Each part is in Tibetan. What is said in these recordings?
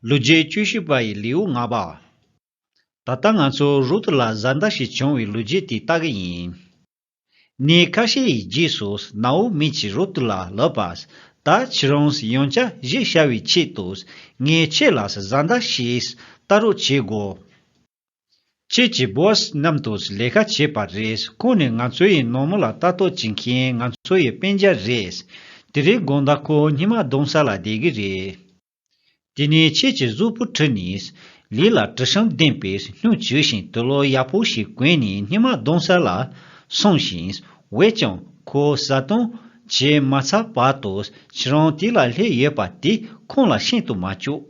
ལོ་རྒྱུས་བཅུ་བཞི་པ་ཡི་ལེའུ་ལྔ་པ། ད་ལྟ་ང་ཚོ་རུ་ཏུ་ལ་བཟའ་ཟླ་ཞིག་བྱུང་བའི་ལོ་རྒྱུས་དེ་ལྟ་གི་ཡིན། ནས་ཁ་ཤས་ཡི་རྗེས་སུ་ནའོ་མི་གྱིས་རུ་ཏུ་ལ་ལབ་པ། ད་ཁྱེད་རང་ཡང་བྱ་གཞས་ཤར་བའི་ཆེད་དུ་ངས་ཁྱེད་ལ་བཟའ་ཟླ་ཞིག་བལྟ་རོགས་བྱེད་དགོས། ཁྱེད་ཀྱི Boss རྣམས་དང་ལས་ཀ་བྱས་པ་རེད་ཁོང་ནི་ང་ཚོ་ཡི་ནོར་མོ་ལ་ལྟ་རྟོག་བྱེད་མཁན་ང་ཚོ་ཡི་དཔེ་འཇའ་རེད་དེ་རེད་དགོངས་དག་ཁོ་སྙི་མ་གདོང་ས་ལ་བསྡད་གི་རེད། དེ་ནས་ཁྱེད་ཀྱི་གཟུགས་པོ་དྲི་ནི་ལི་ལ་དྲི་ཞིམ་ལྡན་པའི་སྙུག་བྱུས་ཤིང་དུ་ལོ་ཡག་པོ་ཞིག་གོན་ནས་སྙི་མ་གདོང་ས་ལ་སོང་ཞིང་འོད་ཀྱང་ཁོ་བཟའ་བཏུང་བྱས་མ་ཚར་བར་དུ་ཁྱེད་རང་དེ་ལ་སླེབས་ཡོད་པ་དེ་ཁོང་ལ་ཤེས་དུ་མ་བཅུག།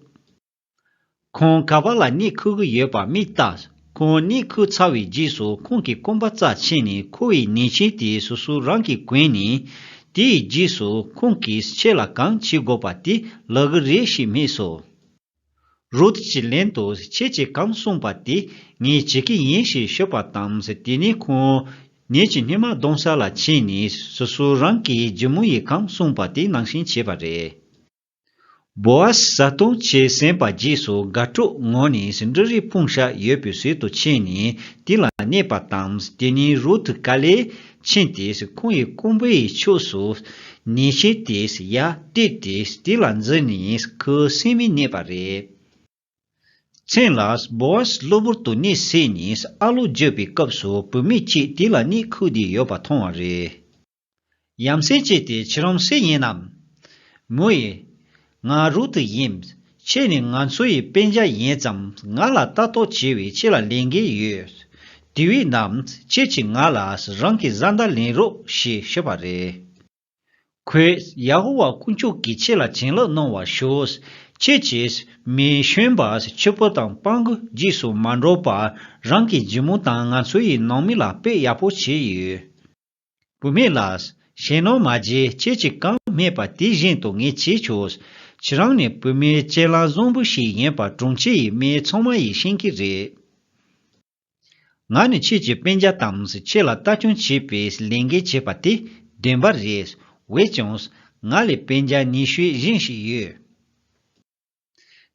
ཁོང་ག་པ་ལ་གནས་འཁུར་གི་ཡོད་པ་མི་བལྟ། ཁོང་གནས་འཁུར་ཚར་བའི་རྗེས་སུ་ཁོང་གི་སྐོམ་པ་རྩ་ཆེ་ནས་ཁོ་བའི་ནད་ཆེན་དེ་སོ་སོ་རང་གིས་གོན་ནས། དེའི་རྗེས་སུ་ཁོང་གིས་ཁྱེད་ལ་གང་བྱེད་དགོས་པ་དེ་ལབ་གི་རེད་ཞེས་སྨྲས་སོ། རུད་ཀྱི་ལན་དུ་ཁྱེད་ཀྱིས་གང་གསུངས་པ་དེ་ངས་བྱེད་ཀྱི་ཡིན་ཞེས་ཤོད་པ་དང་དེ་ནས་ཁོང་ནད་ཀྱི་སྣེ་མ་གདོང་ས་ལ་ཕྱིན་ནས་སོ་སོ་རང་གིས་རྒྱུ་མོ་ཡིས་གང་གསུངས་པ་དེ་ནང་བཞིན་བྱས་པ་རེད། བོ་ཨ་ཟས་བཟའ་བཏུང་བྱས་ཟིན་པ་རྗེས་སུ་དགའ་སྤྲོ་ངང་ནས་ཟིན་འབྲུ་རིའི་ཕུང་ཤ་ཡོད་པའི་ཟུལ་དུ་ཕྱིན་ནས་དེ་ལ་གནས་པ་དང་དེ་ནས་རུ་ཐུ་ཀ་ལས་ཕྱིན་ཏེ་ཁོང་ཡི་རྐུན་པོ་ཡི་ཕྱོགས་སུ་ནས་ཕྱིན་ཏེ་ཡར་བལྟས་ཏེ་དེ་ལ་འཛུལ་ནས་ཁོའི་སེམས་མི་གནས་པ་རེད། མཚན་ལ་བོ་ཨ་ཟས་གློ་བུར་དུ་གནས་བསྲེས་ནས་ཨ་ལོ་བརྗོད་པའི་སྐབས་སུ་བུད་མེད་ཅིག་དེ་ལ་གནས་ཁུག་སྡད་ཡོད་པ་མཐོང་བ་རེད། ཡམ་སྲས་ཀྱེ་དེ་ཁྱེད་རང་སྲས་ཡིན་ནམ། མོ་ཡེ། ང་རུ་ཏི་ཡིན། ཁྱེད་ནི་ང་ཚོ་ཡི་དཔེ་འཇའ་ཡིན་ཙམ་ང་ལ་ལྟ་རྟོག་བྱེད་བའི་ཁྱེད་ལ་ལན་འགེལ་ཡོད། དེ་བས་ན་ཁྱེད་ཀྱིས་ང་ལ་རང་གི་བཟའ་ཟླ་ལེན་རོགས་ཞེས་ཞུས་པ་རེད། ཁོས་ཡ་ཧོ་ཝཱ་དཀོན་མཆོག་གིས་ཁྱེད་ལ་བྱིན་རླབས་གནང་བར་ཞུ། ཁྱེད་ཀྱིས་མི་གཞོན་པ་ཁྱི་ཕོ་དང་སྤང་རྒོད་རྗེས་སུ་མ་འགྲོ་བར་རང་གི་རྒྱུ་མོ་དང་ང་ཚོ་ཡི་ནང་མི་ལ་དཔེ་ཡག་པོ་བྱས་ཡོད། བུད་མེད་ལ། གཞན་སྣང་མ་བརྗེད་ཁྱེད་ཀྱིས་གང་སྨྲས་པ་དེ་བཞིན་དུ་ངས་བྱས་ཆོག། ཁྱེད་རང་ནི་བུད་མེད་གཅེས་ལང་བཟང་པོ་ཞིག་ཡིན་པ་དྲུང་ཆེ་ཡི་མི་ཚང་མ་ཡིས་ཤེས་ཀྱི་རེད། ང་ནི་ཁྱེད་ཀྱི་དཔེ་འཇགས་དང་ཁྱེད་ལ་ལྟ་སྐྱོང་བྱེད་པའི་ལས་འགན་བྱས་པ་དེ་བདེན་པ་རེད། འོས་ཀྱང། ང་ལས་དཔེ་འཇགས་ཉི་ཤུའི་བཞིན་ཞིག་ཡོད།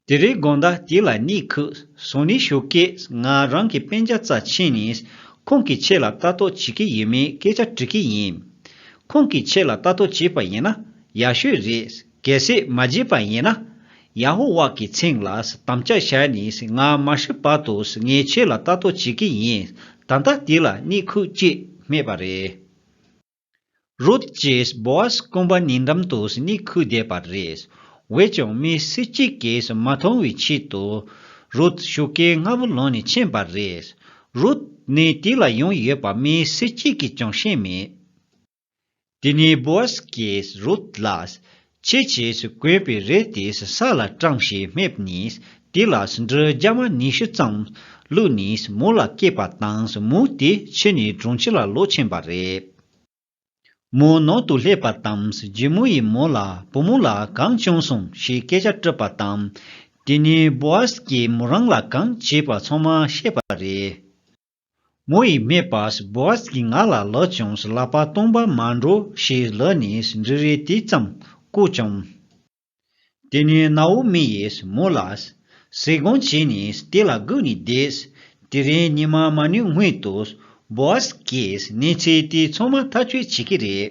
དེ་རིང་དགོངས་དག་དེ་ལ་གཉིད་ཁུགས་སོང་ནི་ཞོགས་ཀྱི་ང་རང་གི་པན་རྒྱ་རྩ་ཆེན་ནི་ཁོང་གི་ཆེད་ལ་ལྟ་རྟོག་བྱེད་ཀྱི་ཡོད་མེད་སྐད་ཆ་དྲི་གི་ཡིན། ཁོང་གི་ཆེད་ལ་ལྟ་རྟོག་བྱེད་པ་ཡིན་ན་ཡག་ཤོས་རེད་གལ་སྲིད་མ་བྱེད་པ་ཡིན་ན། ཡ་ཧོ་ཝཱ་གི་མཚན་ལ་དམ་བཅའ་བྱས་ནི་ང་མ་ཤི་བར་དུ་ངའི་ཆེད་ལ་ལྟ་རྟོག་བྱེད་ཀྱི་ཡིན་ད་ལྟ་དེ་ལ་གཉིད་ཁུགས་ཀྱི་མེད་པ་རེད། རུད་ཀྱིས་བོ་ཨཟ་སྐོམ་པ་ཉེ་འགྲམ་དུ་སྙིགས་ཁུ་བསྡད་པ་རེད། འོས་ཀྱང་མི་སུ་གཅིག་གིས་མ་མཐོང་བའི་ཆེད་དུ། རུད་ཤུགས་ཀྱིས་རྔ་བོ་ལོན་ནས་ཕྱིན་པ་རེད། རུད་ནི་དེ་ལ་ཡོང་ཡོད་པ་མི་སུ་གཅིག་གིས་ཀྱང་ཤེས་མེད། དེ་ནས་བོ་ཨཟ་གིས་རུད་ལ། ཆེས་ཆེས་སུ་བཀོད་པའི་རས་དེས་ས་ལ་སྐྲངས་ཞེས་སྨྲས་ནས་དེ་ལ་འབྲུ་རྒྱ་མ་ཉི་ཤུ་ཙམ་བླུགས་ནས་མོ་ལ་བསྐྱེད་པ་དང་མོ་དེ་ཕྱི་ནས་གྲོང་ཁྱེར་ལ་ལོག་ཕྱིན་པ་རེད། མོ་ནང་དུ་སླེབས་པ་དང་རྒྱུ་མོ་ཡིས་མོ་ལ་བུ་མོ་ལ་གང་བྱུང་སོང་ཞེས་སྐད་ཆ་དྲིས་པ་དང། དེ་ནས་པོ་ཨཱས་ཀྱིས་མོ་རང་ལ་གང་བྱས་པ་ཚང་མ་བཤད་པ་རེད། མོ་ཡིས་སྨྲས་པ། བོ་ཨཟ་གྱིས་ང་ལ་ལག་ཀྱང་བསླབ་པ་སྟོང་པ་མ་འགྲོ་ཞེས་ལག་ནས་འབྲུ་རེ་དེ་ཙམ་བཀུག་ཀྱང། དེ་ནས་ནའོ་མི་ཡིས་མོ་ལ། ཟས་གང་བྱས་ནས་དེ་ལ་བསྒུགས་ནས་བསྡད། དེ་རིང་ཉི་མ་མ་ནུས་སྔོན་དུ། བོ་ཨཟ་གིས་གནས་ཚུལ་དེ་ཚང་མ་ཐག་གཅོད་བྱེད་ཀྱི་རེད།